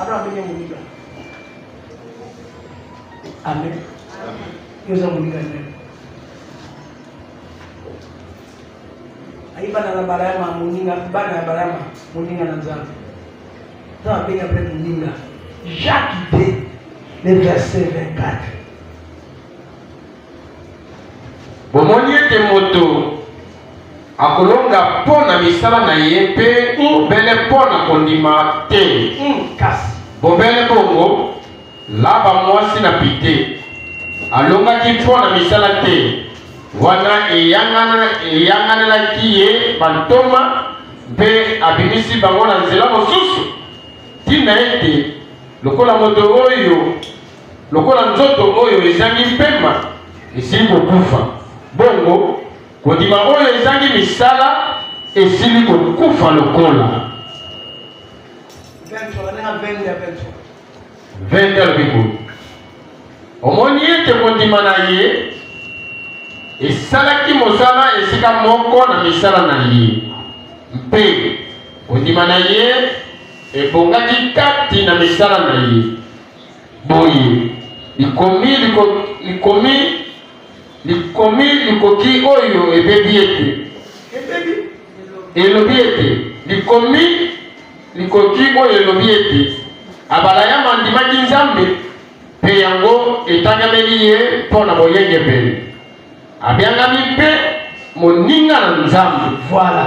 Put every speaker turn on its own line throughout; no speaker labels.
Abraham abengi ye moninga. Amen. Yo oza moninga nini? ayi bana na balayama moninga bana ya balayama moninga na nzambe to abengi apre moninga jacques de le verset 24
Bomoni ete moto akolonga mpo na misala na ye mpe bobele mm. mpo na kondima te. Mm. Kasi bobele bongo, Laba mwasi na pite alongaki mpo na misala te, wana eyanganelaki ye bantoma mpe abimisi bango na nzela mosusu, ntina ete lokola moto oyo Lokola nzoto oyo ezangi mpema esili kokufa, bongo kondima oyo ezangi misala esili kokufa lokola. 20 alobi boye, omoni ete kondima na ye esalaki mosala esika moko na misala na ye, mpe kondima na ye ebongaki kati na misala na ye. Boye, likomi liko, likomi likomi likoki oyo ebebi ete elobi ete likomi likoki oyo elobi ete Abalayama andimaki Nzambe mpe yango etangameli ye mpo na boyengebene. Abyangami mpe moninga na Nzambe. Voilà.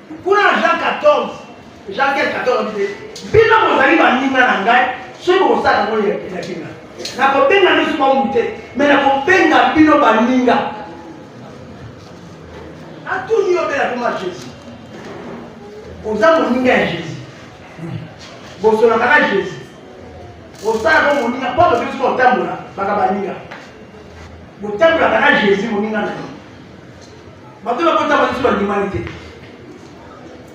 Kuna na Jean 14, Jean 15, 14, bino bozali baninga na ngai soki bokosala yango elakeli na nakobenga biso bangu te me nakobenga bino baninga atuni yo bela koma jésus oza moninga ya jésus bosolaka na jésus osalaka moninga mpo tokoki soki otambola baka baninga botambolaka na jésus moninga na yo bato na kotaba lisusu bandimani te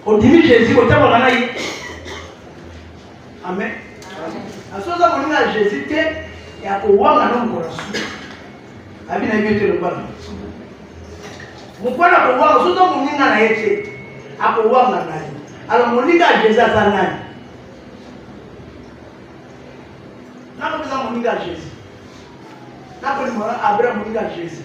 ondimi jésus kotabaka na ye amen aso oza kolinga ya jésus te ya kowanga no mokolo su abi na yebi te lobana mokwana kowanga so oza moninga na ye te akowanga na ye alors moninga ya jésus aza nani nakoza moninga ya jésus nakolimana abraham moninga ya jésus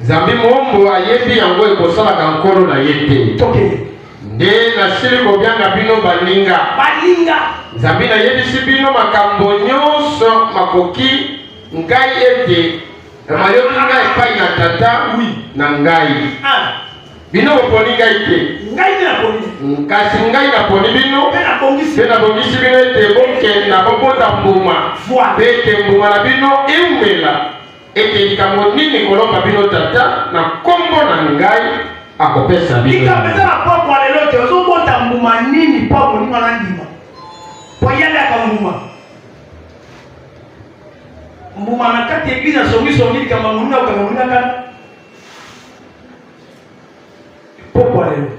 zambi moombo ayebi yango ekosalaka nkolo na ye te toke nde nasili kobyanga bino baninga baninga zambi nayebisi bino makambo nyonso makoki ngai ete mayoki ngai epai na tata wi na ngai ah. bino boponi ngai te ngai nde naponi kasi ngai naponi bino mpe nabongisi bino ete bokenda bobota mbuma mpe ete mbuma na bino eumela ete likambo nini kolomba bino tata na nkombo na ngai akopesa bino likambo eza na pokwa lelo
te ozobota mbuma nini mpo akoninga na ndima mpo yaliaka mbuma mbuma na kati ya eglize asongisongi likambo amoninga okanga moningaka pokwa lelo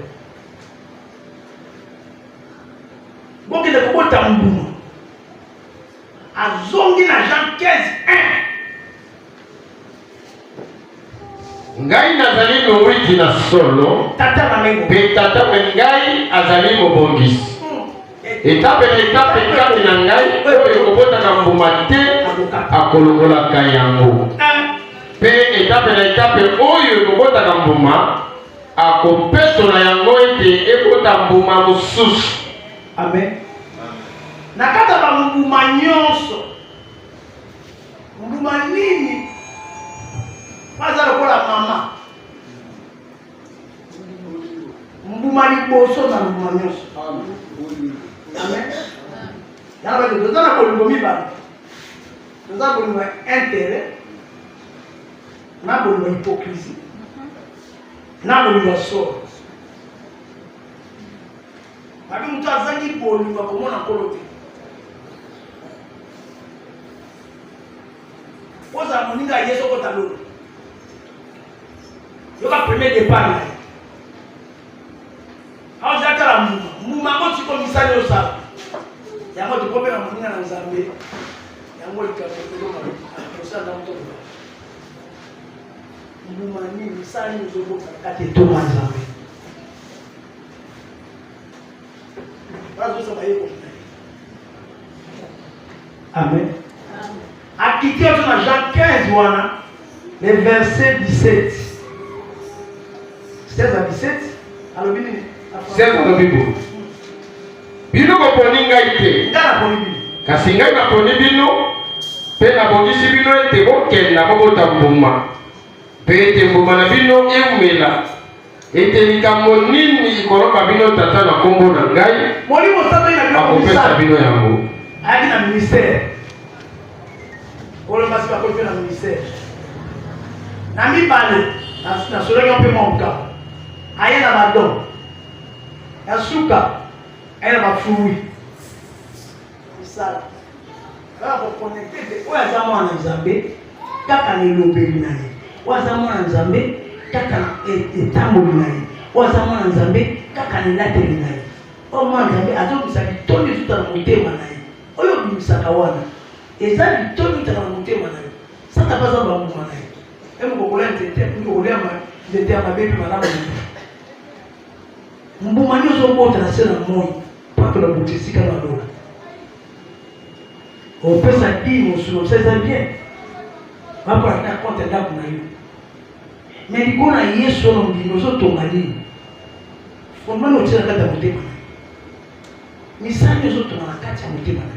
bokende kobota mbuma azongi na Jean 15 ngai nazali mowiti
na solo mpe tata mpe ngai azali mobongisi hmm. etape na etape kati na ngai oyo ekobotaka mbuma te akolongolaka yango eh. mpe etape na etape oyo ekobotaka mbuma akopesola yango ete ekota mbuma mosusu Amen.
Na kati ya bambuma nyonso, mbuma nini baza lokola mama? Mbuma liboso na mbuma nyonso. Amen. Yango bato toza na bolingo mibale, toza bolingo ya intérêt na bolingo ya hypocrisie na bolingo ya solo. Abi moto azangi bolingo akomona nkolo te. Ozala moninga ya Yesu okota lola. Yoka premier départ na ye. Aoza atala mbuma. Mbuma yango tiko misali osala. Yango tokomela moninga na Nzambe. Yango likambo ekoyoka kosala moto mbuma nini misali ozobota kati etoma Nzambe. bazosa bayekoli na ye amen akiti azo na jean 15 wana le verset 17 16 à 17 alobi nini 16
alobi boye bino boponi ngai te ngai naponi bino
kasi ngai naponi
bino mpe nabongisi bino ete bokenda bobota mbuma mpe ete mbuma na bino eumela ete likambo nini koloba bino tata na nkombo na ngai molimo santo ye na bino
akopesa bino yango
ayaki na ministère
kolo basi bakoki mpe na ministère na mibale nasolaki mpe moka aye na badon ya suka aye na bafui kosala kaka koconnecte te oyo aza mwana nzambe kaka na elobeli na ye oyo aza mwana nzambe kaka na e-, etamboli na ye oyo aza mwana nzambe kaka na elateli na ye oyo mwana nzambe azobimisa bitoni ezuta na motema na ye oyo obimisaka wana eza bitoni ezutaka na motema na ye sata mpe aza bambuma na ye emukokola nzete okolia nzete ya mabe mpe malamu mbuma nde ozobota na se na moi mpaka na buti esika na lola opesa dii mosolo misa eza bien bakola ta konte ndako na yo me likolo na yesu ono ndimi ozotonga nini fondement na otia na kati ya motema na misali ozotonga na kati ya motema na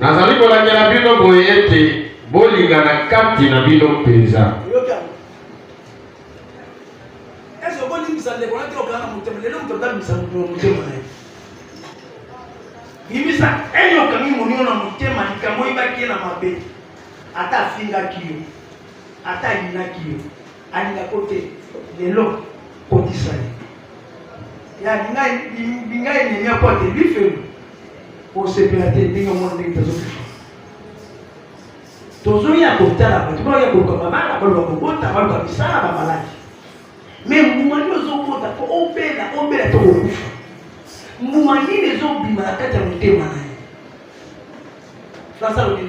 Nazali kolandela
bino
boye ete bolingana kati na bino mpenza.
yebisa ene okangi monio na motema likambo oyebaki ye na mabe ata afingaki yo ata ayinaki yo alingako te lelo kotisa ye ya linga linga enemi ya pote bifelo osepela te ndenge omona ndenge tozokisa tozoya kotala bato baoya koluka babala baluka kobota baluka misala bamaladi me mbuma nini ozokota po obela obela to kokufa mbuma nini ezobima na kati ya motema na ye nasalobi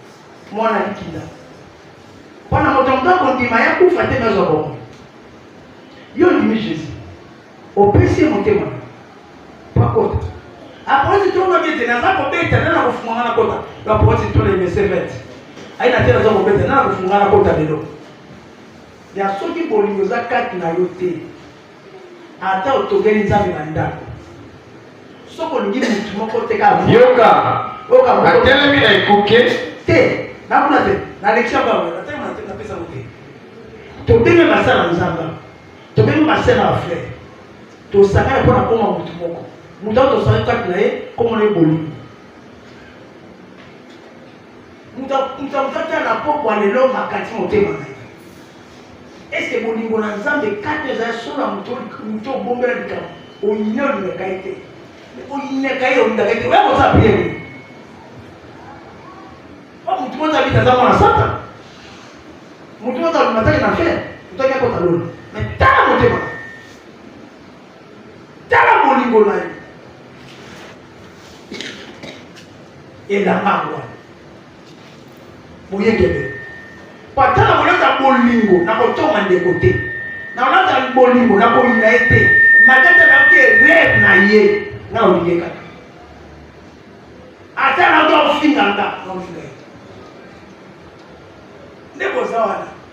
mwana likinda mpo na moto moto akondima ya kufa te nazwa bomoi yo ondimi jésus opesi ye motema pakota aposi tolobaki ete naza kobeta nde na kofunga nga na kota baposi tole mesevete ayi na te naza kobeta nde na kofunga na kota lelo ya soki bolingo eza kati na yo te ata otongeli nzambe na ndako soki olingi motu moko te kaka yoka
yoka natelemi na ekuke te
nakuna te nalekisi yango yango natanga na te napesa yango te tobenge masa na nzamba tobenge masa na bafrere tosangana mpo na koma motu moko moto ao tosangani kati na ye komona ye bolingo mutamutata na pokwa lelo makati motema na ye eske bolingo na nzambe kati ezali solo ya moto obombela likambo oyini olingaka ye te oyinaka ye olingaka ye te oya koza pie nini o motu moto abita aza mwana sata motu moto alumataki na fere moto akekota lona me tala motema tala bolingo na yo elanga yango boyekebe patala kolata bolingo na kotonga ndeko te na kolata bolingo na koyina ye te matata nayoki erreur na ye nga olingi ye kaka ata nayoki akofinga nga nga ofinga ye nde boza wana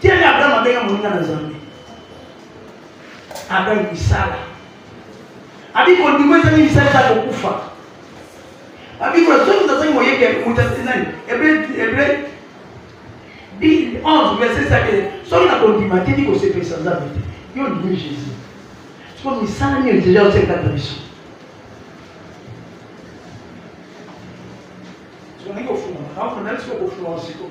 Tiene Abraham abenga moninga na Nzambe. Abraham misala. Abi kondima ezangi misala eza kokufa. Abi kuna soki tozangi moyebi ya kokuta nani? Hebreu Hebreu 11 verset 7 soki na kondima te ndi kosepelisa Nzambe te. Yo ndimi Jésus. Sikoyo misala nini deja osekata biso? Sikoyo ndenge ofungama, kama kuna sikoyo kofungama sikoyo.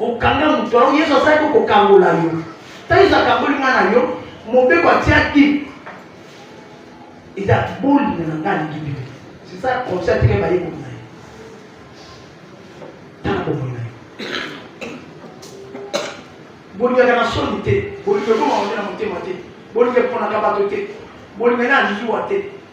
okanga moto yango yesu asalaki kokangola yo ntango yesu akangoli mwana yo mobeko atiaki eza bolingo na ngai alingi bibi sisa komsi atike bayekoli na ye tala bomoi na yo bolingaka na soni te bolingo ekoma onde na motema te bolingo eponaka bato te bolingo ena lizuwa te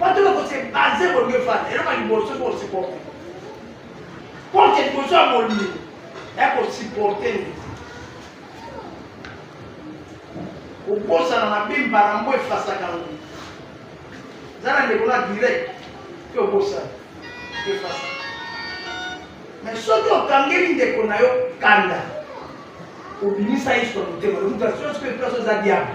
batala kose base bolingo efanda eloko ya liboso soki osupporte porte liboso ya bolingo ya kosupporte nde kobosana mabe mbala moko efasaka yango eza na ndeko na direct mpe obosana efasa me soki okangeli ndeko na yo kanda obimisa yesu na motema lomutu asiosi mpe place oza diable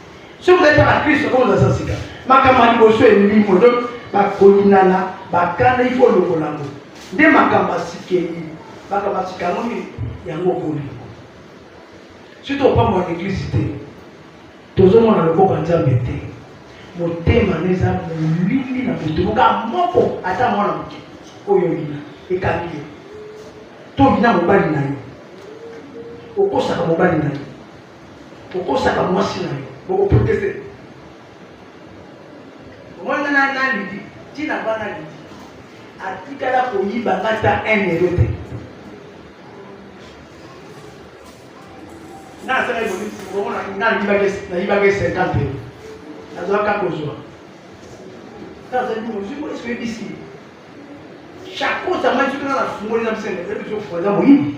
soki ozali kaka na kristo oyo oza sika makambo ya liboso elimo donc bakolinana bakanda ifo olongola yango nde makambo asikeli makambo asika yango nini yango okolingo soki opambo ya eglise te tozomona loboko ya nzambe te motema na eza molili na moto moka moko ata mwana moke oyo olina ekangi yo to olina mobali na yo okosaka mobali na yo kokosaka mwasi na yo bokoproteste omwana na na lidi ntina bana lidi atikala koyiba nga ta un euro te nga asalaki bonisi omona nga nayibaki cinquante euro nazwaka kozwa tazali mozwi po eske oyebisi chakosa ngai soki nga nafungoli na msende ezofuaza moyibi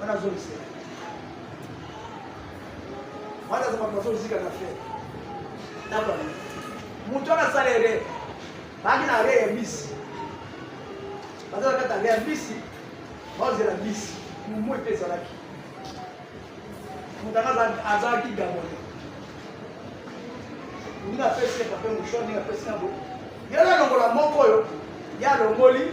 wana azongisa wana aza bato bazozika na fe nabana moto wana asala ere baaki na re ya bisi baza na kati ya re ya bisi baozela bisi momo epe ezalaki moto anga azalaki gabone ndenge apesi epape moshon ndenge apesi na bo yala longola moko oyo ya longoli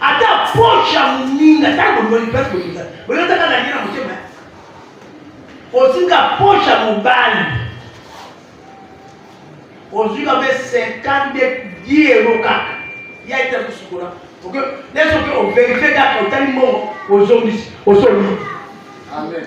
ata poche ya moninga ntango bolingi place bolinga boyotaka na nina motema ozinga poche ya mobali ozinga mpe 52 diero kaka ya ete kosukola oke nesoki overifie kaka otali mbongo ozongisi osoli amen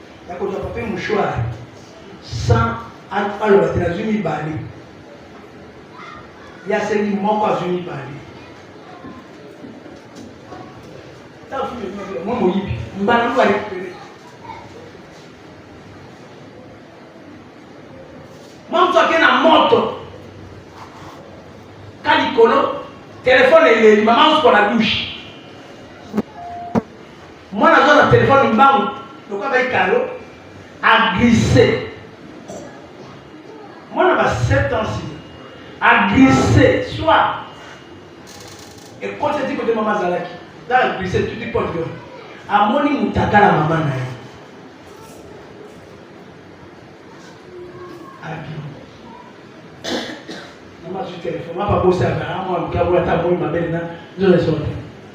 ya kozwa pape mouchoir sans aloba te nazwi mibale ye asengi moko azwi mibale mwa moyibi mbala moko arekupere mwa moto ake na moto ka likolo telefone eleli mama osukola dushe mwana aza na telefone mbangu lokola bai kalo aglise mwana ba 7 ans aglise soit ekoti eti kote mama azalaki na aglise tuti pote yo amoni mutakala mama na ye abimi mama azwi telefone mapa bosaka amwa lukabola ata amoni mabele na nzola esote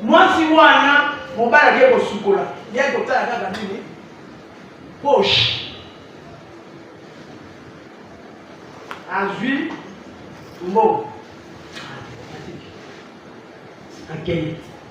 mwasi wana mobali ake kosukola ye kotala kaka nini poshe azwi mbongo akei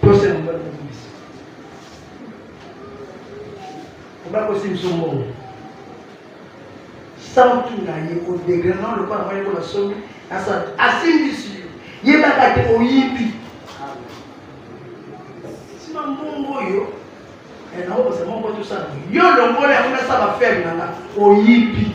Posa ya mobali kobimisa. Mobali kosimisa mbongo. Sauti na ye odegre na lokola mobali ko na somi asala asimbisi yo. Yebaka te oyibi. Sima mbongo oyo eh, naokosa moko tosala yo longola yango nasala ferme na nga oyibi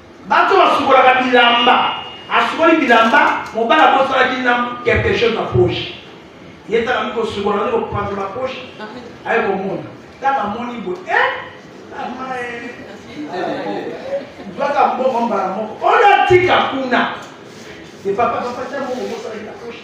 Bato basukolaka bilamba, asukoli bilamba, mobali abosanaki na quelque chose na poche. Ye tala mi kosukola nani kopanza na poche, aye komona tala moni boye eh mama baka mbongo mbala moko ona tika kuna epapa papa ta mbongo bosalaki na poche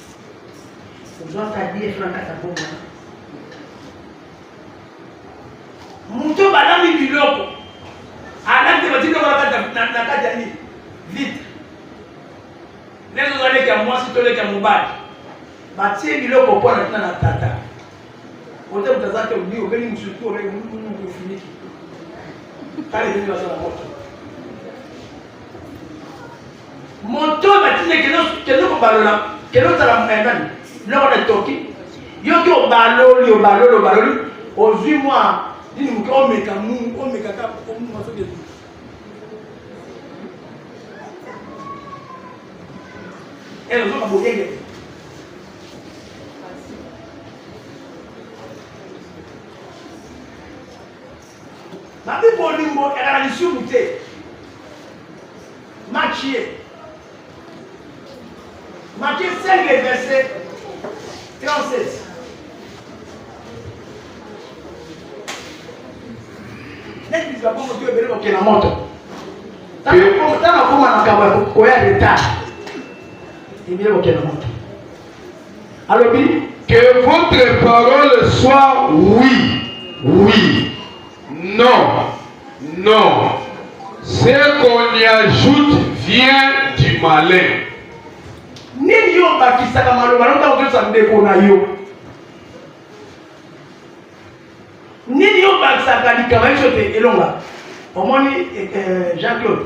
moto balami biloko alati batiloko na kati ya nini vite ndenge oza leki ya mwasi to leki ya mobali batie biloko mpo na tina na tata ote moto aza te obi obeli mosusu to obeli mofiniki tala ebeli baza na moto moto batinde kende kobalola kende ozala mokayangani biloko na etoki yoki obaloli obaloli obaloli ozwi mwa nini moke omeka mu omeka kaka omumasoki ezoka boyenge Babi bolingo ezalaka lisumu te. Makie. Makie 5 le verset 37. Neti biso bakongo tu ebele kokela moto. Tana koma na kaba koya leta. Ebele kokela moto. alobi que
votre parole soit oui oui non non ce qu'on y ajoute vient du malin
nini yo obakisaka maloba no ntango ozosa ndeko na yo nini yo obakisaka likama biso te elonga omoni eh, eh, jean claude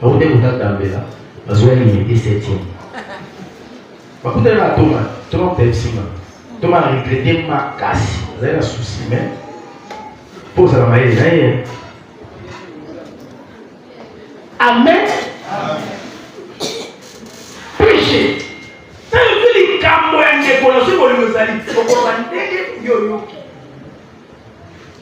Bakuta kuta tambela bazoya limite septième. Bakuta na toma toma pepsima toma regrete makasi azali na souci mais mpo ozala mayele na ye.
Amen. Péché. Sasa vile likambo ya ndeko na soki bolingo ezali okoka ndenge yo oyoki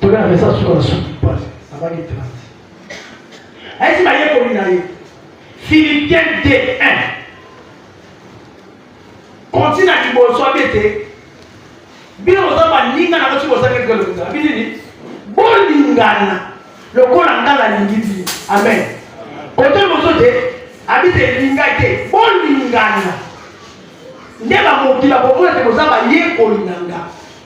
tolea na mesa suka na suki pasi abaki 30 ayesi bayekoli na ye philipien d1 kontina liboso abi ete bino boza baninga na basi bozangi eloko lokuta abi nini bolingana lokola nga nalingi bino amen kote mosusu te abi te elinga te bolingana nde bamokili bakomona te boza bayekoli na nga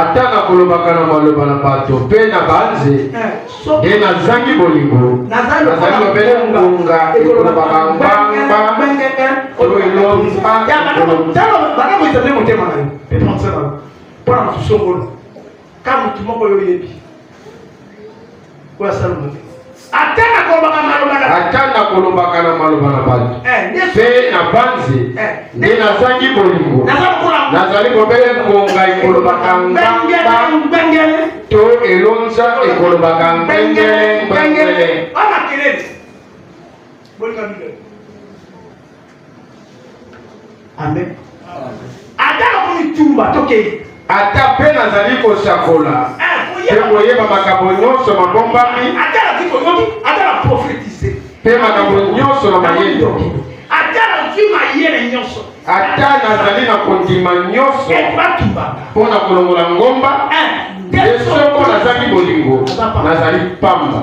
ata nakolobaka
na maloba na bato mpe na banze eh, nde nazangi bolingo nazali obele ngonga ekolobaka ngbangba oyo
elomba ka motu moko yo oyebi oyo asalomo te ata nakolobaka maloba na ata nakolobaka na maloba na bato eh, mpe na banzi eh, nde nazangi bolingo nazali bobele ngonga ekolobaka ngangele to elonza ekolobaka ngengele ngengele bolinga bibele amen ata nakomitumba tokei ata mpe nazali
kosakola mpe eh, koyeba makambo nyonso mabombami ata nakoki koyoki
ata na profetize mpe makambo
nyonso na mayele ata nazwi
mayele nyonso ata nazali
na kondima nyonso eh, mpo na kolongola ngomba eh, nde soko nazangi bolingo nazali mpamba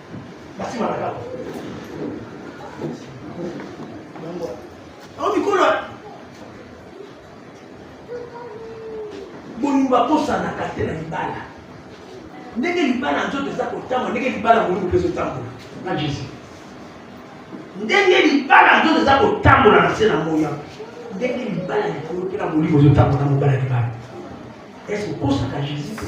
Basi malaka. Yango. Au mikolo bolingo bakosanaka te na libala ndenge libala nzoto eza kotambola ndenge libala bolingo mpe ezotambola na jésus ndenge libala nzoto eza kotambola na se na moya ndenge libala likolo mpe na bolingo ezotambola na mobala libala ese okosaka jésus te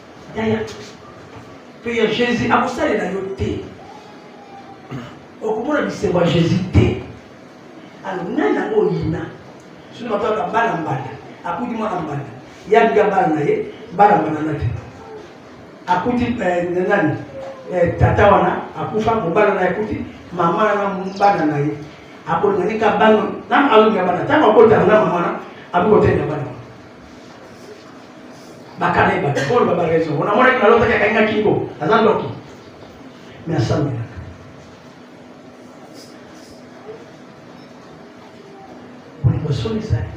yaya mpe ya jésus akosalela yo te okomona bisengo ya jésus te alors nani yango oyina sino bataka bana mbala akuti mwana mbala ye abika bana na ye bana mbala na te akuti eh, nani eh, tata wana akufa mobala na ye akuti mama na bana na ye akolinga nika bana na alonga bana ntango akotana na mama na abikotenda bana bakana ye bato polo baba raison ona monaki na lotaki akangi na kingo aza ndoki me asambelaka bolingo soni ezali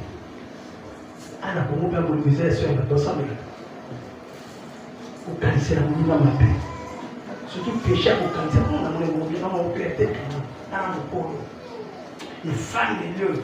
ana kongo mpe bolingo ezali so ya bato asambelaka kokanisela moninga mabe surtout péché ya kokanisa mpo na molemo mobima mokele te ana mokolo efandeli oyo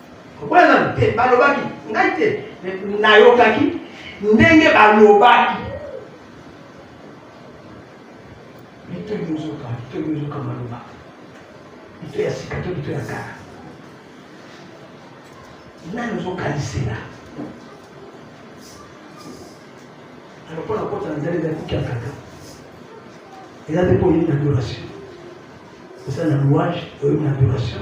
Okola na te balobaki ngai te nayokaki ndenge balobaki mito yozoka mito yozoka maloba mito ya sika to mito ya kala nani ozokanisela alokola kota na nzela ezali kuki ya kaka eza te mpo oyebi na adoration eza na louage oyebi na adoration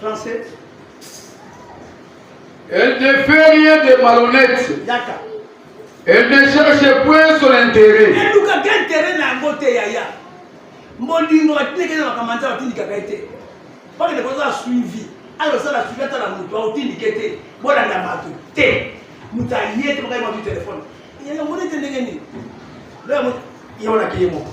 37. Elle
ne fait rien de malhonnête. Elle
ne
cherche point son intérêt. elukaka intérêt
na yango te yaya molingo batindeke na makambo nzambe atindikaka ye te mpaka ndeko oza suivi ayo osala suivi atala moto aotindike te bolanda bato te moto aye te bakai matu telefone yango nete ndenge nini loya moto ye wana keye moko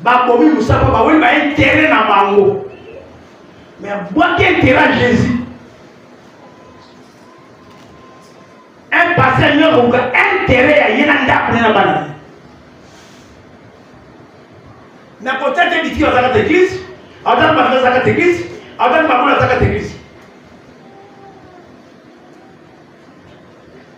babomi mosaka bawe baintere na bango me abwaki intere ya jésus un pase nyokoka intere ya ye na ndako ne na bana na kotya te bitiki bazaka te eglise atani bafila azaka te eglise atani babola azaka te eglise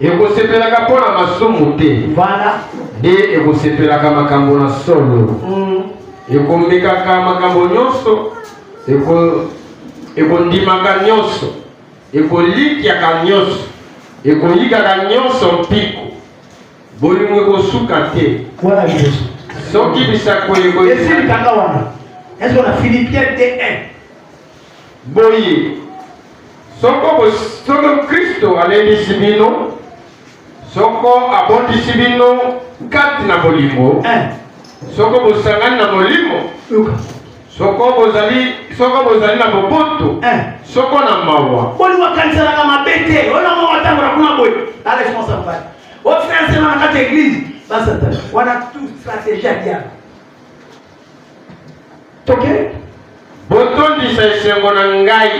ekosepelaka
mpo na masumu te voilà nde ekosepelaka makambo na solo mm. ekomekaka makambo nyonso ekondimaka eko nyonso ekolikyaka nyonso ekoyikaka nyonso mpiko bolingo ekosuka te wana liboso
soki bisakweli
ekoyesi litanga
wana ezo na philipien te 1
Boye, soko soko Kristo alendisi bino, soko abondisi bino kati na bolingo, eh. soko bosangani na molimo, soko bozali soko bozali na boboto, eh. soko na mawa, bolingo akanisanaka
mabe te. Oyo moko atambola kuna boye, la responsable pale ofinasema na kati ya eglise basatana wana tu strategie ya diable toke
botondisa esengo na ngai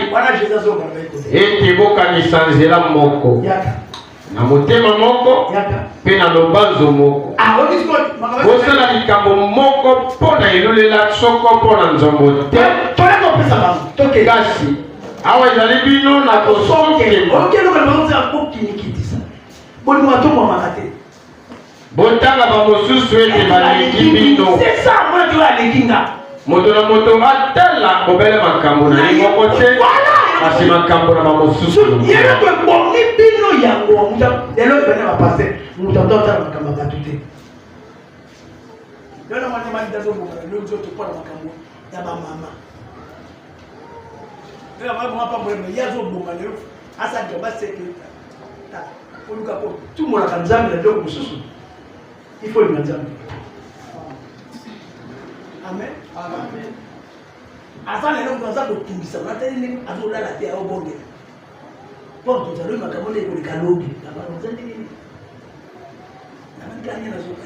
ete bokanisa
nzela moko na
motema
moko mpe na
lobanzo
moko ah, bosala likambo moko mpo na elulela soko mpo na nzombo te kasi awa ezali bino na kosokema Botanga bamosusu ete baleki bino. Moto na moto atala bobele makambo na ye moko te, kasi makambo na bamosusu. Ekomi bino yango lelo ebana bapaste moto ato atala makambo ya bato te. Lelo na mwana mali dazobongana lelo nzoto mpo na makambo ya bamama
Tena mwa mwa pambo na yazo bonga lelo asa ndio ba secret. Ta oluka ko tu mona ka nzambe na biloko mosusu. Il faut le nzambe. Amen. Amen. Asa lelo moto aza kotungisa na tali ndenge azolala te aobongela. Mpo tozali makambo nde ekoleka lobi. Na bango nzambe nini? Na bango nzambe nazoka.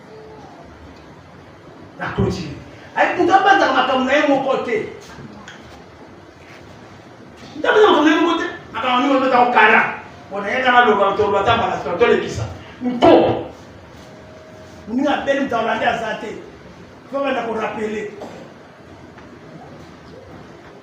na continue ayi moto abanzaka makambo na ye moko te ntabana makambo na ye moko te makambo mingi obeta okara mpona ye kaka loba toloba ata mbala sima tolekisa mpo moninga abeli moto alandi aza te fobanda korapele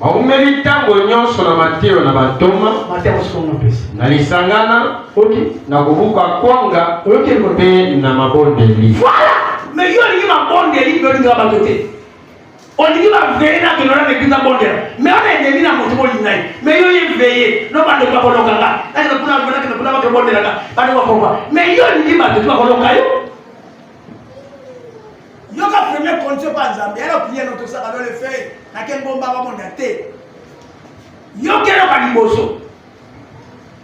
Baumeli
ntango nyonso na mateyo na bantoma na lisangana na kobuka kwanga mpe na mabondeli. Voilà! Mais yo
olingi mabondeli mpe olingaka bato te olingi baveye na kendo na mekiza bondela me wana endemi na moto bolinga ye me yo ye veye no bando bakoloka nga nakende kuna kuna kende kuna bakende bondelaka bando bakoloka me yo olingi bato ti bakoloka yo yoka premier condition mpa nzambe yala priere notosaka dole fei nake ngomba bamonda te yokelaka liboso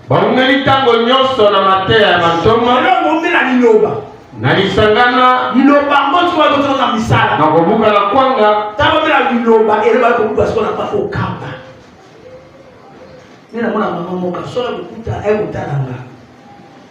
baumeli ntango nyonso na mateya ya bantoma elongoumela liloba
na lisangana
liloba yango sikoyo
tozala na misala na kobuka na kwanga
ntango omela liloba
eloba kobuka sikoyo na mpaka okamba nde namona mama moka solo kokuta ekotala nga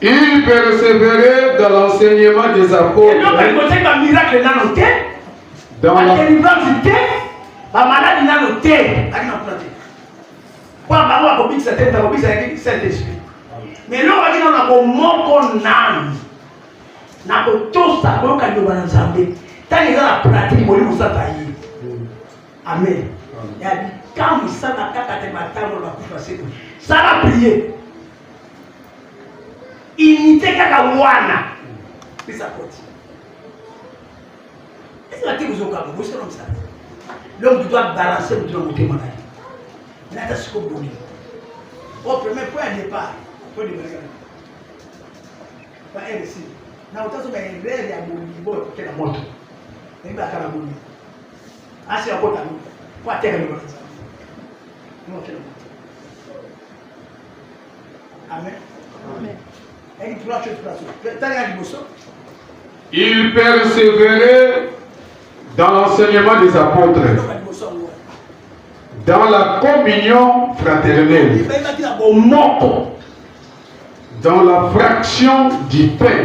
Il
persévérait dans l'enseignement des apôtres.
Dans la... Mais là, on dit non, on a mon mot âme. na kotosa koyoka liloba na nzambe ntango eza na pratique molimo sata ye Amen. Ya bitambo sana kaka te batambo bakufa seko. Sala prier. Unité kaka wana. Pesa koti. Est-ce que tu as un bosi na msala? L'homme doit balancer mutu na motema na ye. Nata siko boni. Au premier point de départ, point de départ. Ba RC. Na utazo ba erreur ya bolingo okela moto. Ndio akala bolingo. asi akota no po atekami na nzambe nokela moto amen eki trois chose place tala ya liboso il
persévérait dans l'enseignement des apôtres dans la communion fraternelle dans la fraction du
pain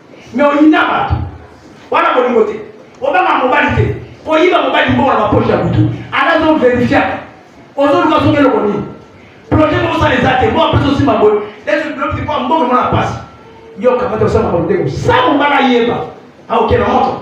Mais oyina bato wana bolingo te, obanga mobali te, koyiba mobali mbongo na bapoche ya butu anazo verifiaka ozoluka soki eloko nini projet moko osala eza te moko apesi osimba boye ezobilobiki mpo mbongo mona mpasi yo kamata osala makambo ndenge sa mobala ayeba aokela moto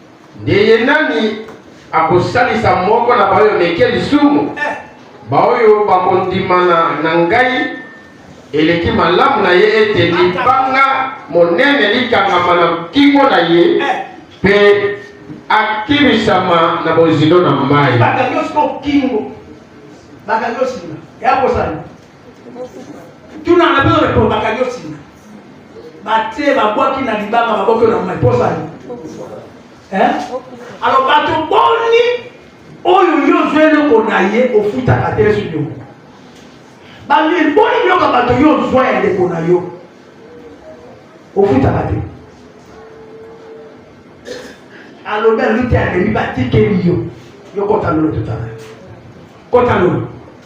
Nde ye nani akosalisa moko na baoyo meke lisumu eh. baoyo bakondimana na ngai eleki malamu na ye ete libanga monene likangama na nkingo na ye eh. mpe akimisama na bozindo na mai
tuna na bino repondu bakangi osinga batie babwaki na libanga baboki na mai posani alors bato boni oyo yo ozwi eloko na ye ofutaka te esu yo bamil boni biloko ya bato yo ozwa ya ndeko na yo ofutaka te alobi aluti amemi batikeli yo yo kota lolo totala kota lolo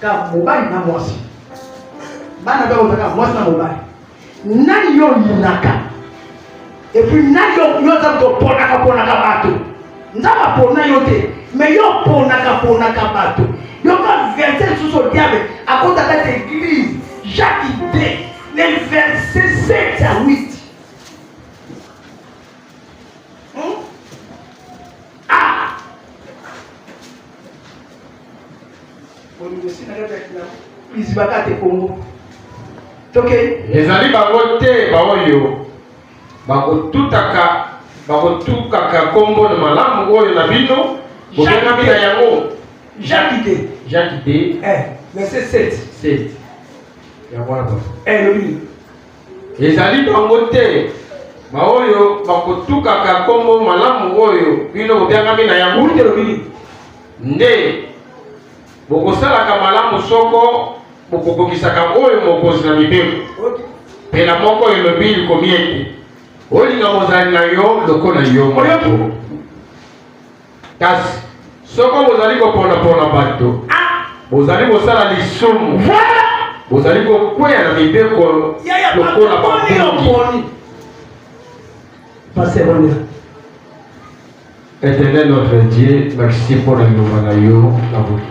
Ka mobali na mwasi. Bana bako taka mwasi na mobali. Nani yo yinaka? Et puis nani yo yo za ko pona ka pona ka bato. Nzaba pona yo te. Mais yo pona ka pona ka bato. Yo ka verset sous au diable à cause de cette église. Jacques idée. Les versets 7 à 8.
ezali bango te baoyo bakotutaka bakotukaka nkombo na malamu oyo na bino bobengami na yango jaki te
jaki te eh, verset 7 7 yango wana eh, elobi
Ezali bango te baoyo bakotukaka nkombo malamu oyo bino bobyangami na yango te lobili nde bokosalaka malamu soko bokokokisaka oyo mokonzi na mibeko pela moko elobi likomi ete olinga mozali na yo lokola yo moko Kasi soko bozali koponapona bato, ah! bozali kosala lisumu, bozali kokweya na mibeko lokola babongi. Éternel notre Dieu, merci mpo na liloba na yo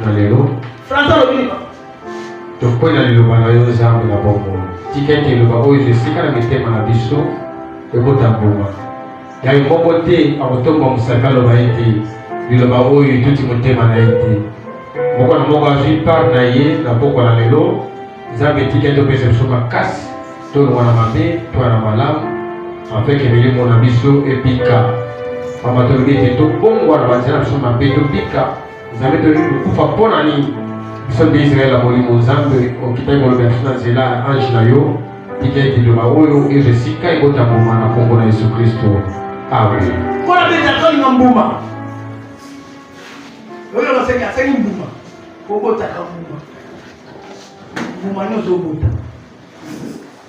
na lelo. Tokwei na liloba na yo Nzambe na bomoi. Tika
ete liloba oyo ezwa esika na mitema na biso ekota mbuma. ya ye moko te akotomba mosaka aloba ete liloba oyo etuti motema na ye te moko na moko azwi part na ye na pokwa na lelo nzambe etika topesa biso makasi tolongwa na mabe toya na malamu afeke milimo na biso ebika mama tolobi ete tobongwa na banzela na biso mabe tobika Nzambe toyebi kokufa mpo na nini? Biso nde Israel ya molimo Nzambe okitaki koloba biso na nzela ya ange na yo tika ete liloba oyo ezwa esika ekota mbuma na nkombo na Yesu Kristo. Amen. Mpo na beta toli na mbuma oyo baseki aseki mbuma
kobotaka mbuma mbuma nyonso obota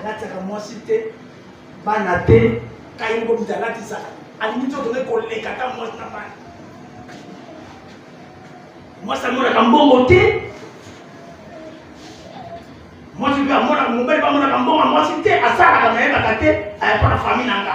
alataka mwasi te bana te kai moko moto alatisaka alingi nzoto nde koleka ata mwasi na bana mwasi amonaka mbongo te mwasi mpe amonaka mobali bamonaka mbongo mwasi te asalaka nayebaka te ayapaka fami na nga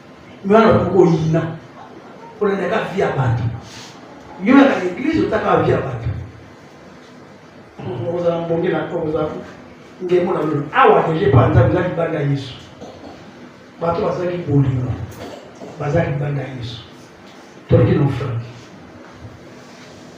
Mais on a beaucoup yina. On a déjà vie à battre. Yo na l'église otaka vie à battre. On vous a embongé la cause vous a ngemo na lolo. Awa deje pa nza vous a libanda Yesu. Bato bazaki bolingo. Bazaki libanda Yesu. Toki na frère.